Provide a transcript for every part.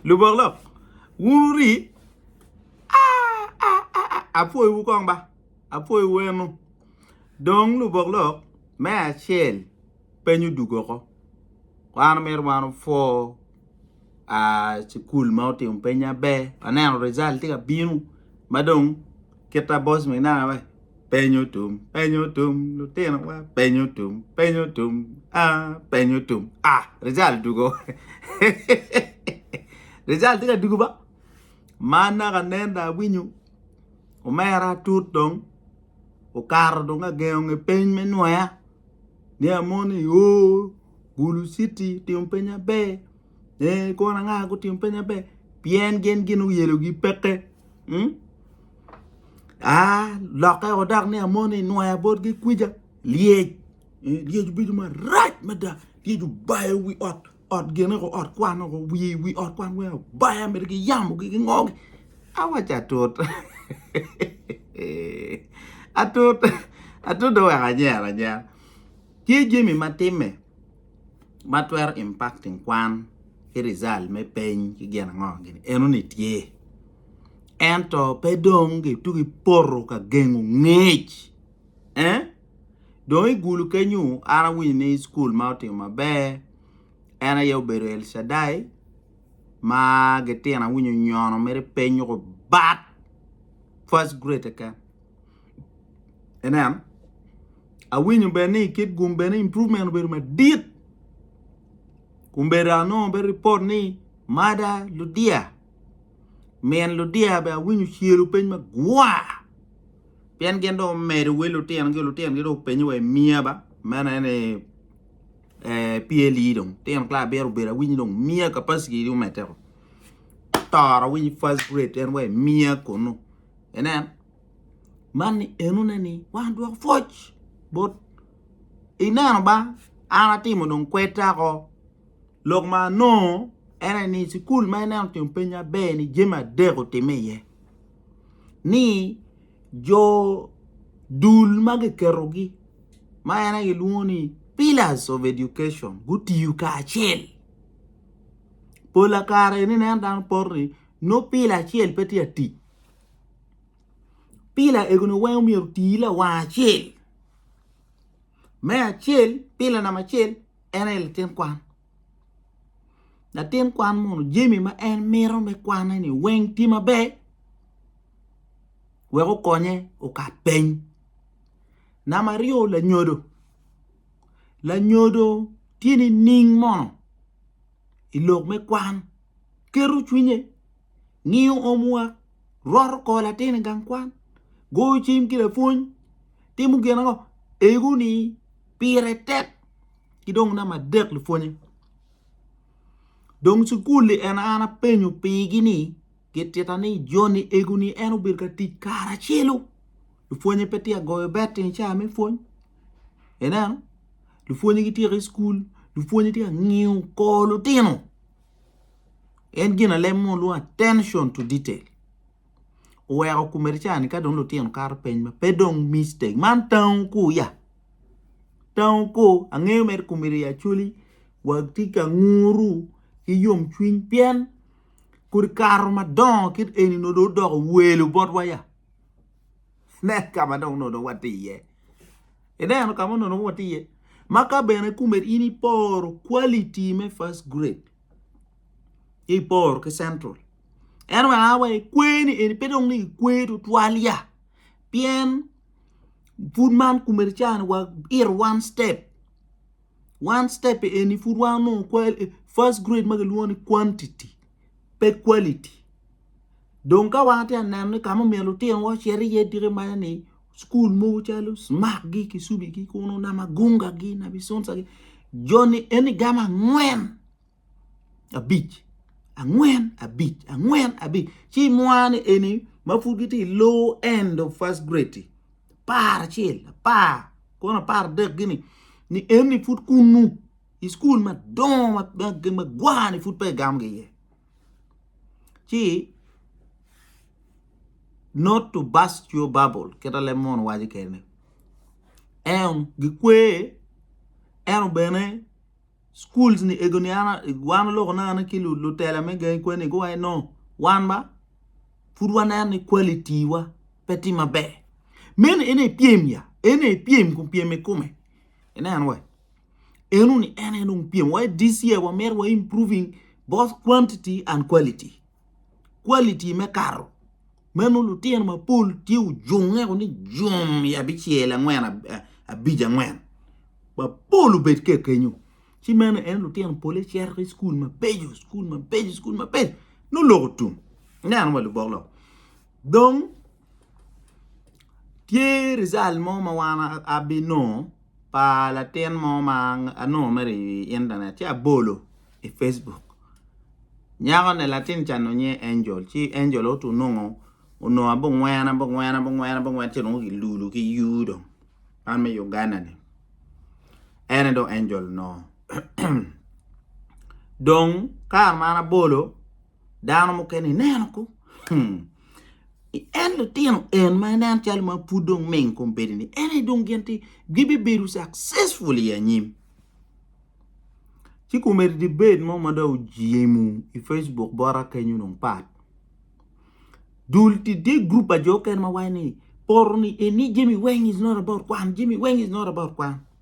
Lubok lok wun wuri aah apwoyo wu kong ba apwoyo wu eno dong lubok lok me acel peny odug oko wan omyero wan opwo aah cukul ma otimo peny maber waneno result tye ka bino madong. kita boss minana wai penyo tum penyo tum lutino wa penyo tum penyo tum ah penyo tum ah rizal dugo rizal tika dugo ba man naka nen da winyo omera tut dong okato dong agengo nge peny me nwoya ni amoni o gulu citi timo peny maber Ee, kwon anga ma gutimo peny maber? Pien gin gin oyelogi peke. Hmm? Ah, lokke o dok ni amoni inwaya botgi kwica. Lyec. Eh, lyec obedo marac mada. Lyec obayo wi ot, ot gene ko, ot kwan ko, wi wi ot kwan weng obayo mito ki yamogi ki ngogi. Awac atut. atut. Atut dong wek anyera anyera. Tye jami ma timme. ma twero impacting kwan ki result me peny ki gin ango gin eno ni tye ento pe dong gituk ipoto ka gengo ngec eh dong igulu kenyu an awinyo ni cukul ma otimo maber en aye obedo Elcadai ma gitino awinyo onyono mere peny nyo bat first grade keken. Inen, awinyo bene ni kit gum bene improvement obedo madit kun bene anongo bene report ni mada ludiya min ludiya bene awinyo ocelo piny magwa pien gin dong omedo wel lutinogi lutinogi dong openyo wa i miya ba meno en ee PLE dong litino class abiro obedo awinyo dong miya capacity dong omedde woko toro awiny first grade en wa i miya kunu. Inen, man ni enone ni wan dwoko pwoc bot ineno ba an atimo dong kwedda ko lok ma anongo en aye ni cukul ma ineno otimo piny maber ni jami adek otime iye ni jo dul ma kiketogi ma en aye kilwongo ni pillars of education gutiyo kacel pola kare ineno dano poto ni nongo pila acel pe tye ka tic. Pila egoni weng omyero oti lawang acel me acel pila namba acel en aye latin kwan latin kwan munu jami ma en mito me kwane ni weng tye maber wek okonye okat piny namba aryo lanyodo, lanyodo tye nining mono ilok me kwan keto cwinye. ngiyo omwa, roto kor latin i gang kwan, goyo cim ki lapwony, timo gin ango? Ego ni pire tek ki dong namba adek lupwonye. Dong cukul-li en an apenyo pigi ni gitita ni Joni ego ni en obedo ka tic kare acelu lupwonye pe tye ka goyo betting i cawa me pwony. Ineno lupwonye gityeko i cukul lupwonye tye ka ngiyo kor lutino. En ginalem mo lwongo attention to detail oweko komedi ca ni ka dong lutino kato peny ma pe dong mistake man tango ko ya tango ko angeyo mere komedi ya actually watye ka nguru ki yomcwiny pien kodi kato madongo kit eni nongo dong odoko welo botwa ya. Nen ka ma dong onongo watye iye. Ineno ka ma onongo dong watye iye? Ma ka bene kome in iporo quality me first grade, ci iporo ki Central, en bene a wa ekweni eni pe dong ni ikwe tutwal ya pien pud man kome ca-ni wa it one step. One step eni pud wanongo first grade ma kilwongo ni quantity pe quality dong ka wan atye ka neno ni ka ma omyero lutinowa ocit iye tika imanyo ni cukul mogo calo smargi, kicubigi kunu, namugunga-gi, nabicuncagi joni eni gamo angwen. abic angwen abic angwen abic ci mwane eni ma pud gitye i low end of first grade-di apar acel apar kwon apar adek gini ni eni pud kunnu i cukul madongo ma gwani pud peya egamo gi iye ci not to burst your bubble kita leb mono waco kene en gikwer eno bene schools ni ego ni an wan loko na an ki lutela me gangi kwen ni guwaci no wan ba pud waneno ni quality wa pe tye maber meno ene ipyem ya ene ipyem kun pyem ikume inen wa eno ni en en dong pyem wa this year wamito wa improving both quantity and quality quality me kato meno lutino mapol tye ojunge woko ni jum i abicel angwen abic angwen mapol obed ka kenyo ci meno en lutino pole cito ki cukul mabeco cukul mabeco nongo lok otum ineno wa lubok lok dong Tye rijal mo ma wan abinongo pa latin mo ma anongo mere i intanet ci abolo i pacebuk nyakoni latin ca onongo nyinge Angel ci Angel aye onongo abongwena bongwena bongwena ci dong kilulo ki U dong man me Uganda-ni en aye dong Angel onongo dong kare ma an abolo Dano mukene ineno ko hmm. En litino en ma inen calo ma pud dong ming kom bedi-ni en aye dong gin ti gibibedo successful i anyim. Ci komedi debate mo ma dong ojemu i Facebook bota kenyo dong pat. Dul ti tye group pa jo kene ma waco ni poto ni eni jami weng is not about kwan jami weng is not about kwan.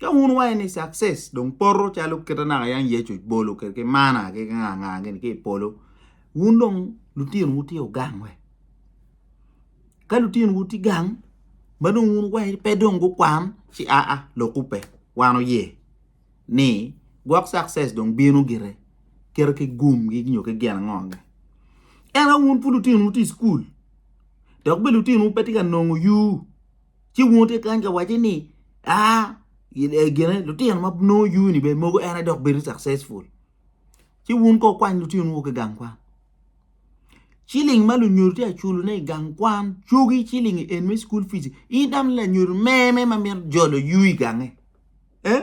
Ka wun iwaco ni success dong poto calo kite naka yang Yecu bolo kede ki mana ki nga nga gini ki i polo wun dong lutinowu tye ogang we ka lutinowu tye gang ma dong wun iwaco ni pe dong gukwan ci aa lok kubbe wan oye ni gwok success dong bino gire kite ki gum gi nyo ki gin ango ange ento wun pud lutinowu tye i cukul dok bene lutinowu pe tye ka nongo yur ci wun wutye kany ka wacce ni aa gine lutino ma nongo yuni bene mogo en aye dok bedo successful ci wun kong wukwany lutinowu ki gang kwan ciling ma lunyodo tye ka culone i gang kwan cogi ciling en me cukul pici in tam ni lanyodo meme ma mito jolo yu i gange ee.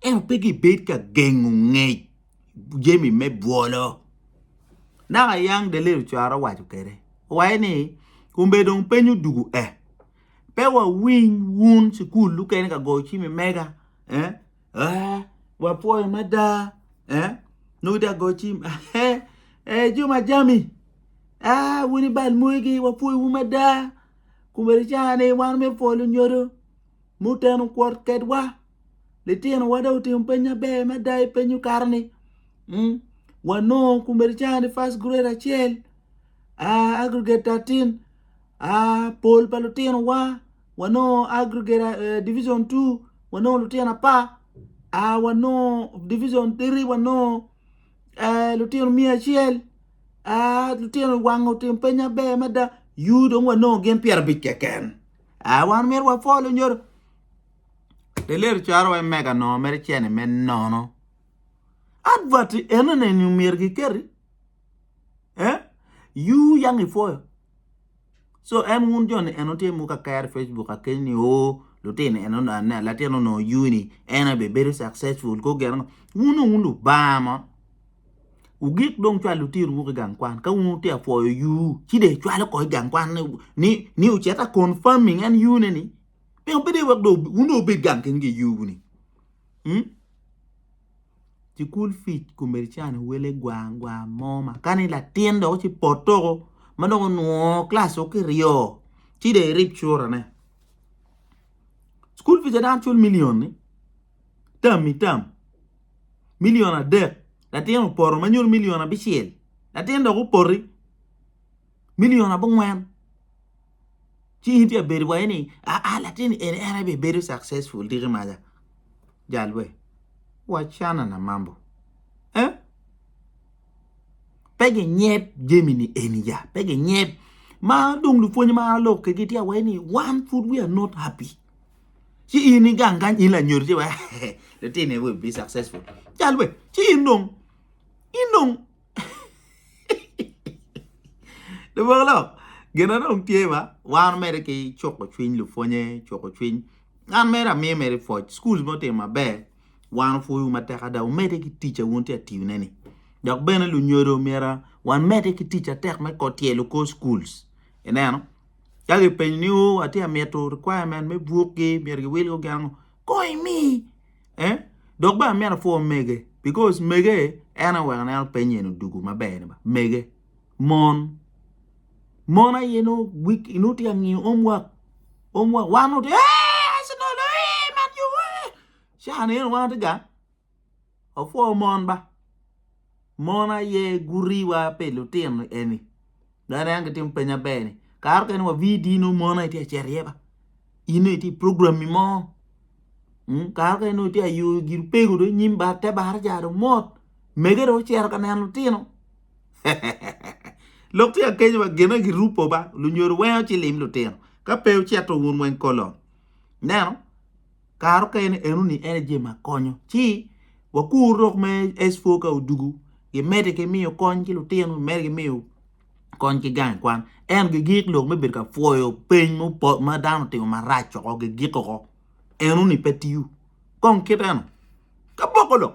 ento pe gibed ka gengo ngec jami me bwolo. Dok ayang Deliel Ocwara owaco kwede, owaco ni, Kombe dong peny odwogo eh, pe wawiny wun cukul mukene ka goyo cim i mega eh, eh, wapwoyo mada eh, nongo itye ka goyo cim eh, eh, jo ma jami ah wun ibal mwegi wapwoyowu mada komedicani wan omyero pwo lunyodo muteno kwot kwedwa. litinowa dong otimo peny maber mada i peny okato ni wanongo kumeri canga ni first grade acel aggregate thirteen pol pa litinowa wanongo aggregate division two wanongo litino apar wanongo division three wanongo litino miya acel litino i wanga otimo peny maber mada U dong wanongo gin pyerabic keken wan myero wapwol onyodo. Delil cwaro wai mega nongo mere cene me nono. Advert eno neni omyero giketi. Eh? You yang ifoyo. So en wun jo ni eno tye muka kere Facebook akeny ni o oh, lutino eno na latin ono you ni en abe bedo successful ko geno ngo. Wun wun lubanga mo. Ugik dong cwal lutino wuki gang kwan ka wun tye afoyo you ci de cwalo ko gang kwan ni ni, ni uceta confirming en you ne ni Pingo pe dong iwek dong wun dong wubed gang keken ki yubu ni? Hmm? Cukul fic komedi cani wele gwang gwang mo ma kani latin dok ci potoko ma dong onwongo klas o ki ryo ci dong irib curane. Cukul fic dano cul milion ni tam i tam milion adek latin opoto ma nyuto milion abicel latin dok opoti milion abongwen ci in tye bedo waye ni aa latin eni en aye bedo successful diki maja jal we wacana na mambo eh pe ginyep jemi ni eni ja pe ginyep ma dong lupwony ma alok kegi tye awaye ni wan pud we are not happy ci in ni gang gang in la nyodo ci wa latin eni we be successful jal we ci in dong in dong Lubolo, gin ma dong tye ba, wan omedde ki cuko cwiny lupwonye, cuko cwiny. An mere amiyo mere pwoc, cukul ma otimo maber wan opwoyo matek ada, omedde ki tic ma wun wutye ka tiyone-ni. Dok bene lunyodo myero wamedde ki tic matek me tyelo kor cukul, ineno. Ka kipenyi ni atye ka mito requirement me bukgi myero giwilgo gin ango, kong imi. eh dok bene amyero apwor mege because mege en aye oweko aneno piny eni dugu maber ni mege mon mon aye nongo tye ka ngiyo home work home work wan nongo tye eeh Arsenal eeh Man U eeh caa ni eno wan watye ga wapwor mon ba. Mon aye guriwa pi lutino eni. Dong aneno gitimo peny maber ni kare okene wa VD nongo mon aye tye ka cito iye ba. In nongo itye program-mi mo. Mm, Kare okene nongo itye ka yo gin opego dong nyim bar te bar ca dong mot. Mege dong ocito ka neno lutino. Lok tye ka kenyo ba gine girupo ba lunyodo weng ocilim lutino. Ka pe ocito wun weng kolon. Neno? kare okene eno ni en aye jami ma konyo ci wakur lok me S4 ka odugu gimede ki miyo kony ki lutino gimede ki miyo kony ki gang kwan ento gigik lok me bedo ka pwoyo piny ma dano otimo maraco woko gigiko woko eno ni pe tiyo kong kit eno ka poko lok.